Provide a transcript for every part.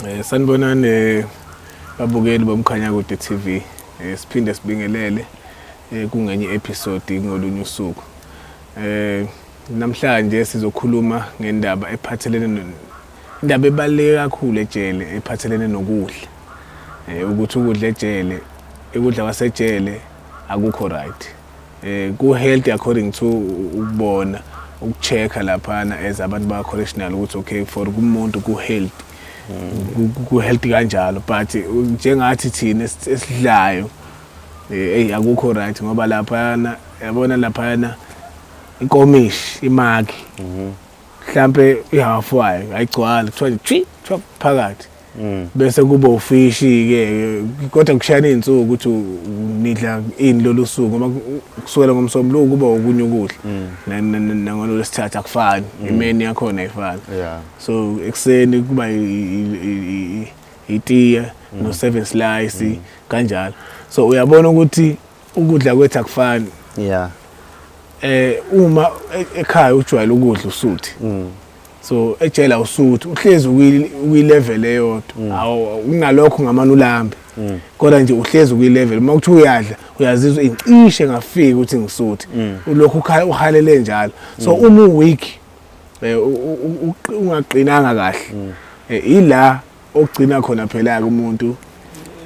Eh sanibonani eh, babukeli bomkhanya kude TV. Eh siphinde sibingelele eh kungenye episode ngolunye usuku. Eh namhlanje sizokhuluma ngendaba ephathelene indaba ebaluleke kakhulu ejele ephathelene nokudla. Eh ukuthi ukudla ejele, ukudla kwasejele akukho right. eh ku healthy according to ukubona ukuchecka laphana as abantu ba correctional ukuthi okay for kumuntu ku healthy ku healthy kanjalo but njengathi thina esidlayo eh akukho right ngoba laphana yabona laphana inkomishi imaki mhlambe ihafu wayo ayigcwala kuthiwa kuthiwa phakathi Mm. bese kuba ufishi ke kodwa kushayana izinsuku ukuthi nidla ini lolu suku uma kusukela ngomsombuluko kuba okunye ukudla mm. nangolo lesithatha akufani mm. imeni yakhona ayifani so ekuseni kuba itiya no seven slice kanjalo so uyabona ukuthi ukudla kwethu akufani yeah eh uma e-, ekhaya ujwayele ukudla usuthi so ejela usuthi uhlezi ukwilevel eyodwa mm. awu unalokho ngamana ulambe mm. kodwa nje uhlezi ukwilevel uma kuthi uyadla uyazizwa incishe ngafiki ukuthi ngisuthi mm. ulokhu uhalele njalo so uma uweak eh, ungaqinanga kahle eh, ila okugcina khona phela ke umuntu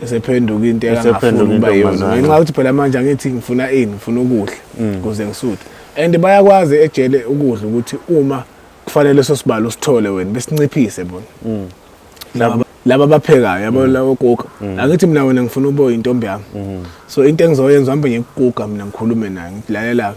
esephenduka into engafuni ukuba yona ngenxa ukuthi phela manje angithi ngifuna ini ngifuna ukudla mm. ukuze ngisuthe and bayakwazi ejele ukudla ukuthi uma kufanele sosibalo usithole wena besinciphise bona mm. laba laba baphekayo yabo mm. lawo kuka angithi mina wena ngifuna ubo intombi yami so into engizoyenza hambe ngikukuka mina ngikhulume naye ngilalela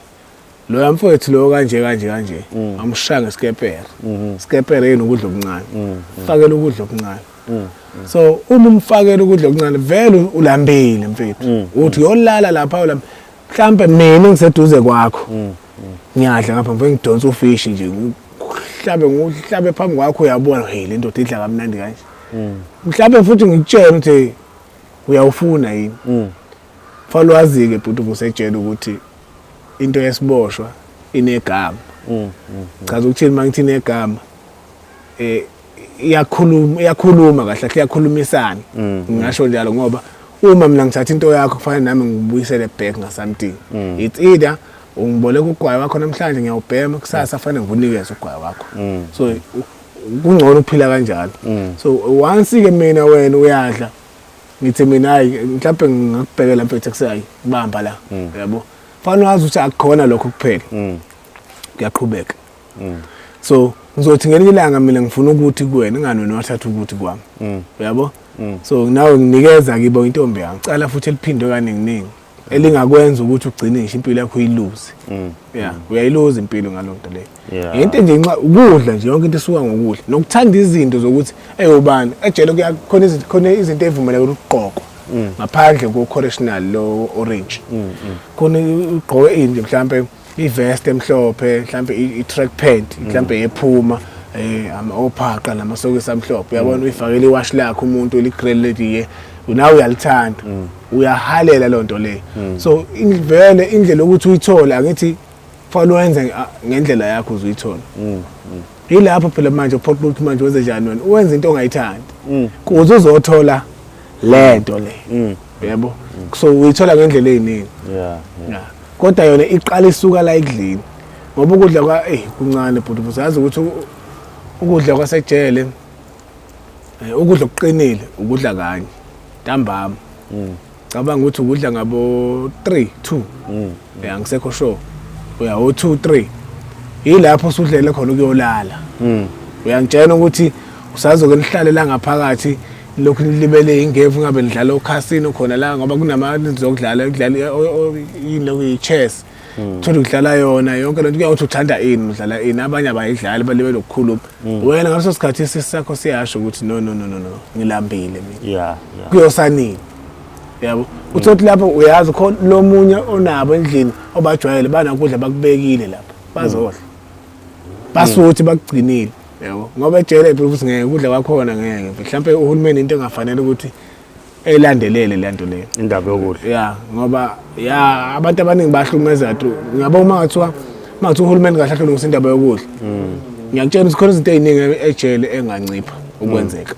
loya mfowethu loyo kanje kanje kanje mm. amushaya ngesikepere mm-hmm. sikepere yini ukudla okuncane mm, mm. fakela ukudla okuncane mm, so uma umfakela ukudla okuncane vele ulambile mfethu uthi yolala lapha ulamba mhlambe mina ngiseduze kwakho ngiyadla ngapha mfethu ngidonsa ufishi nje ngihlabe ngihlabe phambi kwakho uyabona hey le ndoda idla kamnandi kanje mhlambe futhi ngikutshela ukuthi uyawufuna yini Fanele wazi-ke bhuti uvusetshela ukuthi into yesiboshwa inegama. Mm, mm, Chaza mm. ukuthini uma ngithi inegama eh iyakhuluma iyakhuluma kahle kahle iyakhulumisana mm. ngingasho njalo ngoba uma mina ngithatha into yakho kufanele nami ngibuyisele back nga something mm. it's either ungiboleka ugwayi wakho namhlanje ngiyawubhema kusasa fanele ngivunikeze ugwayi wakho mm. so kungcono ukuphila kanjalo so once ke mina wena uyadla ngithi mina hayi mhlawumbe ngingakubhekela mfethu kusayi bamba la mm. yabo fanele wazi ukuthi akukhona lokho kuphela mm. kuyaqhubeka mm. so ngizothi ngelinye ilanga mina ngifuna ukuthi kuwena ingani wena wathatha ukuthi kwami uyabo so nawe nginikeza kibo intombi yami cala futhi eliphindwe kaninginingi elingakwenza ukuthi ugcine ngisho impilo yakho uyiluze mm. yeah mm. uyayiluza impilo ngalonto le into nje nxa ukudla nje yonke into isuka ngokudla nokuthanda izinto zokuthi eyobani ejele kuyakhona izinto khona izinto evumeleke ukuqoqwa mm. ngaphandle ko correctional lo orange khona ugqoke into mhlawumbe ivest emhlophe mhlambe i-track pant mhlambe mm. yephuma eh ama ophaqa namasokisi amhlophe uyabona mm. uyifakela iwash lakhe umuntu ligrill lediye nawe uyalithanda mm. uyahalela lonto le so vele indlela ukuthi uyithole angithi fanele wenze ah, ngendlela yakho uzuyithola yilapho phela manje uphoqa ukuthi manje wenze njani wena uwenza into ongayithandi kuze uzothola lento le yebo so uyithola ngendlela eziningi yeah yeah kodwa yona iqala isuka la ekudleni ngoba ukudla kwa eyi kuncane bhuti uzazi ukuthi ukudla kwasejele eh, ukudla okuqinile ukudla kanye ntambama mm. cabanga ukuthi ukudla ngabo 3 2 mm. ya ngisekho sure uya o 2 3 yilapho usudlele khona ukuyolala mm. uyangitshena ukuthi usazoke nihlalela ngaphakathi lokhu nilibele ingevu ngabe nidlala okhasino khona la ngoba kunamali zokudlala ukudlala yini lokhu yi-chess hmm. thola ukudlala yona yonke lento kuyawuthi uthanda ini udlala ini abanye abayidlali balibele lokukhuluma hmm. wena ngaleso sikhathi isisi sakho siyasho ukuthi no no no no no ngilambile mina kuyosanini yabo uthi othi lapho uyazi khona lo munye onabo endlini obajwayele banakudla bakubekile lapho bazodla basuthi bakugcinile yabo ngoba ejele phela ukuthi ngeke ukudla kwakhona ngeke mhlawumbe uhulumeni into engafanele ukuthi elandelele le nto leyo indaba yokudla ya ngoba ya abantu abaningi bahlukumeza tu ngiyabo uma ngathiwa uma ngathiwa uhulumeni kahle ahlolungisa indaba yokudla mm. ngiyakutshela ukuthi khona izinto eziningi ejele engancipha ukwenzeka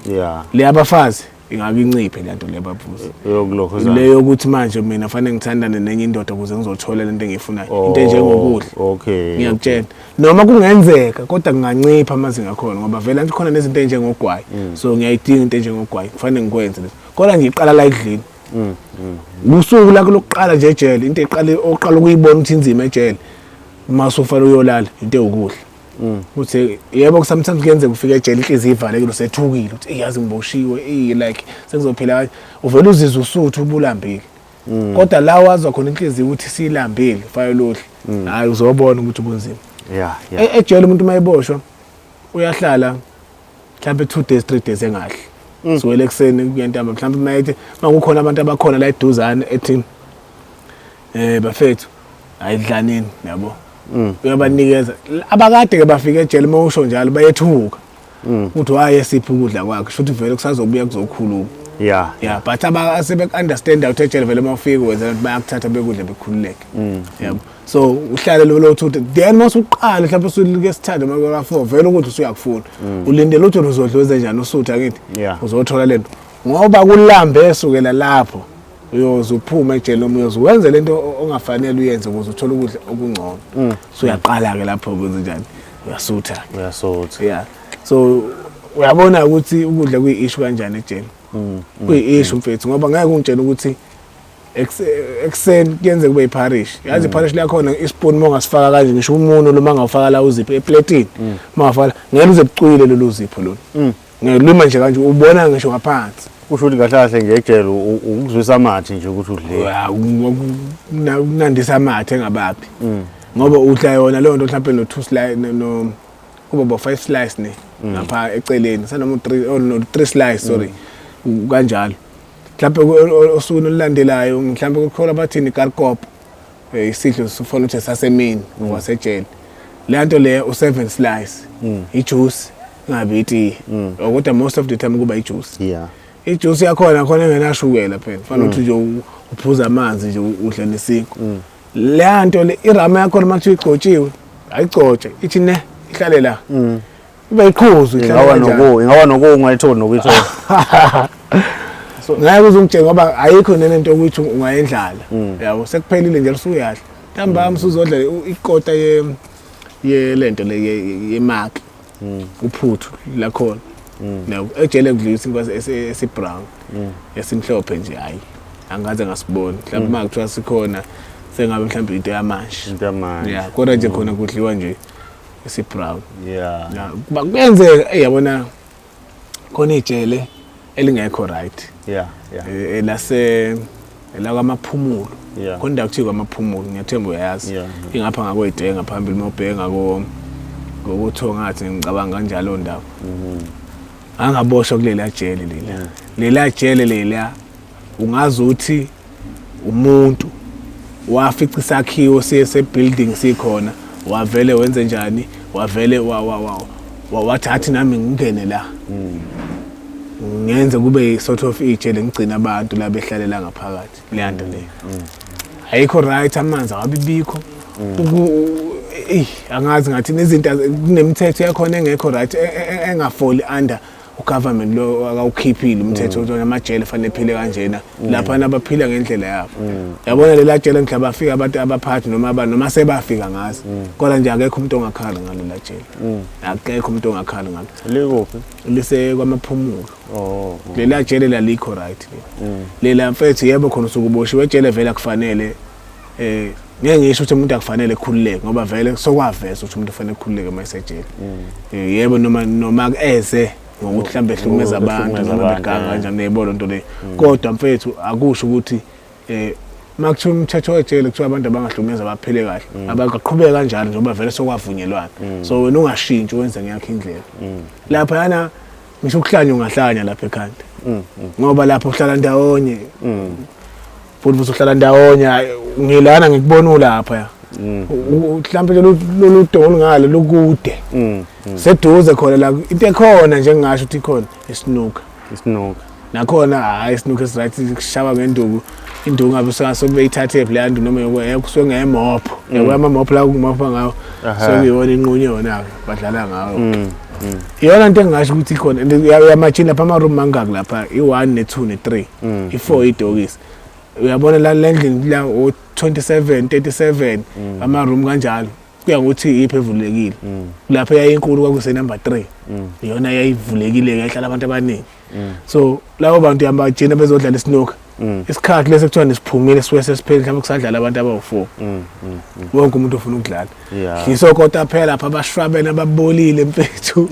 mm. ya le abafazi ingake inciphe lento le babuze yokulokhozana le yokuthi manje mina fanele ngithandane nenye indoda ukuze ngizothola lento engiyifunayo oh, into enjengokudla okay ngiyakutshela noma kungenzeka kodwa kungancipha amazinga khona ngoba vele anti khona nezinto enjengogwayi mm. so ngiyayidinga into enjengogwayi kufanele ngikwenze lento kodwa ngiqala la ekudlini mm, mm. usuku lakho lokuqala nje ejele into eqale oqala ukuyibona ukuthi inzima ejele uma usufanele uyolala into ewukudla Mm. uthi yebo sometimes kuyenzeka ufike ejele inhliziyo ivalekile usethukile uthi iyazi ngiboshiwe i like sengizophila kanje uvela uzizwa usuthu ubulambile mm. kodwa la wazwa khona inhliziyo ukuthi silambile fayolohle mm. hayi uzobona ukuthi kunzima yeah, yeah. E-, ejele umuntu uma eboshwa uyahlala mhlawumbe two days three days engahle mm. siwele ekuseni kuyentamba mhlawumbe uma ethi uma kukhona abantu abakhona la eduzane ethi um eh, bafethu ayidlanini yabo mm. uyabanikeza abakade-ke bafike ejele uma usho njalo bayethuka mm. ukuthi waye siphi ukudla kwakhe sho ukuthi vele kusazobuya kuzokhuluma ya ya but asebeku-understanda ukuthi ejele vele uma ufike wenzela ukuthi bayakuthatha bekudla bekhululeke yabo mm. so uhlale lolo uthi then uma usuqala mhlawumbe usulike sithande uma kwaka 4 vele ukuthi usuyakufuna mm. ulindele ukuthi uzodlweze njani usutha kithi uzothola lento ngoba kulambe sukela lapho uyoze uphume ejele noma uyoze wenze lento ongafanele uyenze ukuze uthole ukudla okungcono mm. so uyaqala ke lapho kwenze njani uyasutha ke uyasutha yeah so uyabona ukuthi ukudla kuyi-issue kanjani ejele mm, kuyi-issue mfethu ngoba ngeke ungitshele ukuthi ekuseni kuyenzeka kube iparish yazi iparish mm. lakhona ispoon uma ungasifaka kanje ngisho umuno loma ngawufaka la uzipho epletini uma mm. ungafaka ngeke uze bucwile lolu zipho lolu mm. ngelima nje kanje ubona ngisho ngaphansi usho ukuthi kahle kahle ngejele ukuzwisa amathe nje ukuthi udle kunandisa amathe engabaphi ngoba udla yona leyo nto mhlawumbe no-two slice no kuba bo-five slice ne ngapha eceleni sanoma u-three oh, slice sorry kanjalo mhlawumpe osukwini olulandelayo mhlawumpe kukhola bathini garkop um eh, isidlo sifona ukuthi sasemini mm. wasejele le nto leyo u-seven slice mm. ijuice ingabi itiye mm. oh, kodwa most of the time kuba ijuice yeah ijuice yakhona khona engenashukela phela fanele ukuthi nje uphuza amanzi nje udle nesiko leya nto le irama yakhona uma kuthiwa igcotshiwe ayigcotshe ithi ne ihlale la Uba iqhuzu ingaba noku ingaba noku ungayitholi nokuyithola. Ngeke uzungitshela ngoba ayikho nene into ukuthi ungayendlala. Mm. Yabo sekuphelile nje usuyadla. Ntambama usuzodla ikota ye ye lento le ye mark. Mm. Uphuthu la khona. Mm. Yabo ejele kudlula isinkwa esi brown. Esimhlophe nje hayi. Angaze ngasiboni. Mhlawumbe uma kuthiwa sikhona sengabe mhlawumbe into yamanje. Into yamanje. Yeah, kodwa nje khona kudliwa nje. esibrown yeah yeah kuba kuyenzeka eh, yabona khona ijele elingekho right yeah yeah eh, elase la kwamaphumulo yeah. khona indawo kuthiwa kwamaphumulo ngiyathemba uyayazi yeah. ingapha ngakweyidenge ngaphambili uma ubheka ngokuthongathi ngicabanga kanjalo ndawo mm -hmm. angaboshwa kuleliya jele leliya yeah. leliya jele leliya ungazi uthi umuntu wafica isakhiwo siye sebuilding sikhona wavele wenze njani wavele wa wa wa wathatha nami ngingene la ngenze kube sort of itshe lengigcina abantu la behlalela ngaphakathi leyanda le ayikho right amanzi awabibikho eh angazi ngathi nezinto kunemithetho yakhona engekho right e, e, e, engafoli under ugovernment lo akawukhiphile umthetho ukuthi amajele fanele phile kanjena lapha nabaphila ngendlela yabo yabona lela jele ngisho abafika abantu abaphathi noma abantu noma sebafika ngazi kodwa nje akekho umuntu ongakhala ngalo la jele akekho umuntu ongakhala ngalo likuphi lise kwamaphumulo oh lela jele lalikho right lela mfethu yebo khona usukuboshiwe jele vela kufanele eh ngeke ngisho ukuthi umuntu akufanele ekhululeke ngoba vele sokwaveza ukuthi umuntu ufanele ekhululeke uma esejele mm. eh, yebo noma noma eze ngokuthi mhlambe ehlumeza abantu noma beganga eh. kanjani yebo lonto le mm. kodwa mfethu akusho ukuthi eh makuthiwa umthetho wejele kuthiwa abantu abangahlumeza baphile kahle mm. abaqhubeke kanjalo njengoba vele sokwavunyelwana so wena ungashintshi wenze ngeyakho indlela lapha yana ngisho ukuhlanya ungahlanya lapha ekhanda mm, mm. ngoba lapho uhlala ndawonye mm. futhi futhi uhlala ndawonye ngilana ngikubona ulapha ya mhlawumbe lolu dolo ngalo lukude seduze khona la into ekhona njengasho ukuthi ikhona isinuka isinuka nakhona hayi isinuke esiright sishaba ngenduku induku ngabe usengaso kube ithathe leya nduku noma yokuya kusuke ngeyemopho mm. yabo amamopho la kumopho ngawo sekuyona inqunye yona-ke badlala ngawo mm, mm. iyona nto engingasho ukuthi ikhona uyamajini lapha ama-room mangaki lapha i-one ne-two ne-three i-four idokisi uyabona la le ndlini la o-27 37 ama-room kanjalo kuya ngokuthi iyiphi evulekile lapho yayinkulu kwakusenumber three iyona yayivulekile-ke ihlala abantu abaningi mm. so labo bantu yabagcina bezodlala isnoka mm. isikhathi lesi kuthiwa nisiphumile siwe sesipheli mhlawumbe kusadlala abantu abawu-four mm, wonke umuntu ofuna ukudlala dliso kota phela pha abashwabene ababolile mfethu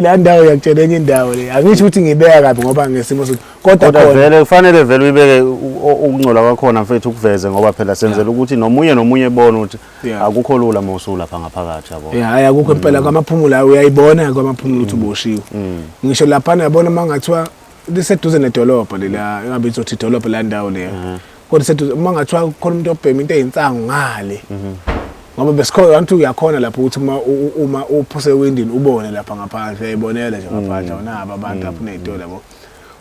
la ndawo yakutshela enye indawo le angisho ukuthi ngibeka kabi ngoba ngesimo sokuthi kodwa vele kufanele vele uyibeke ukungcola kwakhona mfethu ukuveze ngoba phela senzela ukuthi nomunye nomunye ebone ukuthi Yeah. akukho lula uma usulapha ngaphakathi yabo Yeah, hayi akukho impela kwamaphumulo hayi uyayibona kwamaphumulo ukuthi uboshiwe ngisho laphana yabona uma ngathiwa liseduze nedolobha lela engabe izothi idolobha la ndawo leya kodwa iseduze uma ngathiwa kukhona umuntu obhema into eyinsangu ngale ngoba besikhona abantu uyakhona lapho ukuthi uma u- u- uma uphuse ewindini ubone lapha ngaphandle uyayibonela nje ngaphandle awunabo abantu apho uney'tolo yabo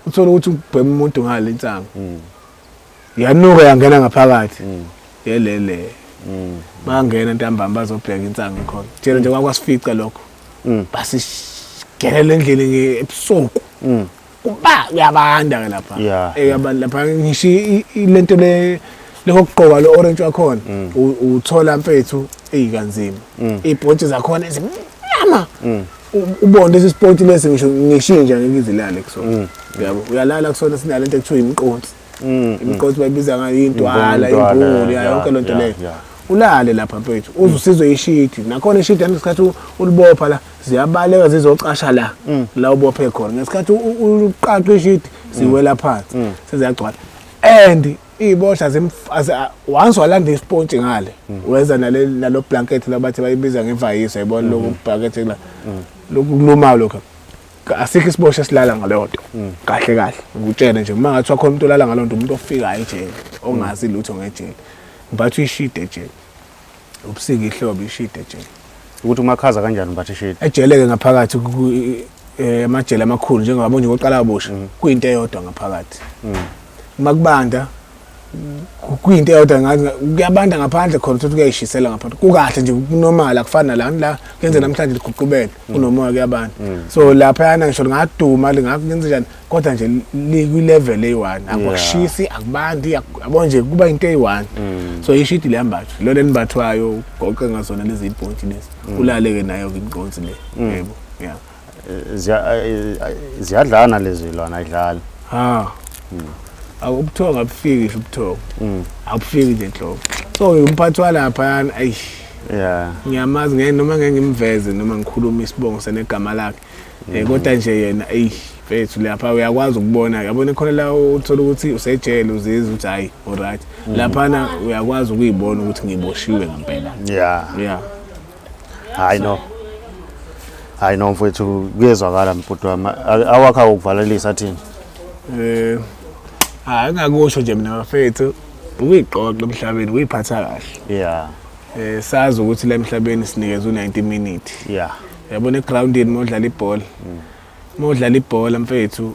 uthole ukuthi ubhema umuntu ngale insangu yanuka yangena ngaphakathi mm. yelele mm. bangena ntambama bazobheka insangu khona tshela nje kwakwasifica lokho mm. basigelele endlini ebusuku kuba kuyabanda ke lapha eyabanda eh, lapha ngisho lento le lokugqoka lo orange wakhona uthola mfethu eyikanzima ibhontshi zakhona ezimnyama ubone lesi sport lesi ngisho ngishinja ngizilale kusona yabo uyalala kusona sinale into ekuthiwa imqonsi Mm, imigqozi mm. bayibiza ngayo intwala imbulu yayo yonke lento leyo ulale lapha mfethu uze usizwe ishidi nakhona ishidi ngesikhathi ulibopha la ziyabaleka zizocasha la mm. la ubophe khona ngesikhathi uqaqe ishidi ziwela phansi seziyagcwala and iy'bohla once walanda isipontshi ngale wenza nalo blanket labathi bayibiza ngevayiso yayibona loku blanket lokuluma lokho asikho isibosho esilala ngaleyo nto mm. kahle kahle ngikutshele nje uma ngathi wakhona umuntu olala ngaleyo nto umuntu ofikayo ejele ongazi lutho ngejele ngibathi uyishide ejele ubusika ihlobo ishide ejele ukuthi umakhaza kanjani ngibathi ishide ejeleke ngaphakathi eh, amajele amakhulu njengoba nje koqala abosha mm. kuyinto eyodwa ngaphakathi mm. uma kubanda kuyinto eyodwa ngathi kuyabanda ngaphandle khona ukuthi kuyayishisela ngaphandle kukahle nje kunormal akufani nalani la kuyenze namhlanje liguqubele mm. kunomoya kuyabanda mm. so lapha yana ngisho lingaduma lingakenze njani kodwa nje likwi-level eyi-one akushisi akubandi yabo nje kuba into eyi-one mm. so ishidi liyambathwa lona elimbathwayo ugoqe ngazona lezi ibhontshi lezi ulaleke nayo-ke imqonsi le yebo yeah ziyadlana lezi lwana ayidlali ha hmm. akubuthongo abufiki ubuthongo hmm. abufiki nje nhlobo so umphathi walapha yani ayi yeah ngiyamazi ngeke noma ngeke ngimveze noma ngikhuluma isibongo senegama lakhe eh hmm. kodwa nje yena ayi mfethu lapha uyakwazi ukubona yabona khona la uthola ukuthi usejele uzizwa ukuthi hayi alright laphana uyakwazi ukuyibona ukuthi ngiboshiwe ngempela yeah yeah hayi no hayi no mfowethu kuyezwakala mbhuti wami awakha ukuvalelisa thini eh hayi ngakusho nje mina bafethu ukuyixoxa emhlabeni uyiphatha kahle yeah eh sazi ukuthi la emhlabeni sinikeza u90 minute yeah yabona egroundini modlala ibhola mm. modlala ibhola mfethu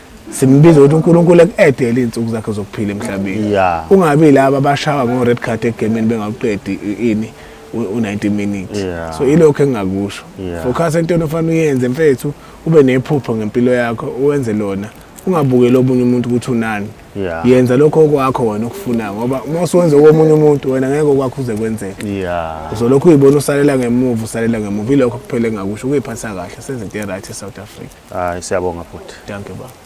simbiza ukuthi uNkulunkulu ekuedele izinsuku zakhe zokuphila emhlabeni yeah. ungabi laba abashawa ngo red card egameni bengakuqedi ini u90 minutes yeah. so ilokho engingakusho yeah. focus entweni ofanele uyenze mfethu ube nephupho ngempilo yakho uwenze lona ungabukeli omunye umuntu ukuthi unani yeah. yenza lokho okwakho wena okufunayo ngoba uma usuwenza komunye umuntu wena ngeke okwakho uze kwenzeke yeah. uzolokhu uyibona usalela ngemuva usalela ngemuva ilokho kuphela engakusho ukuyiphatha kahle senze into e-right e-south africa hayi siyabonga futhi thank you baba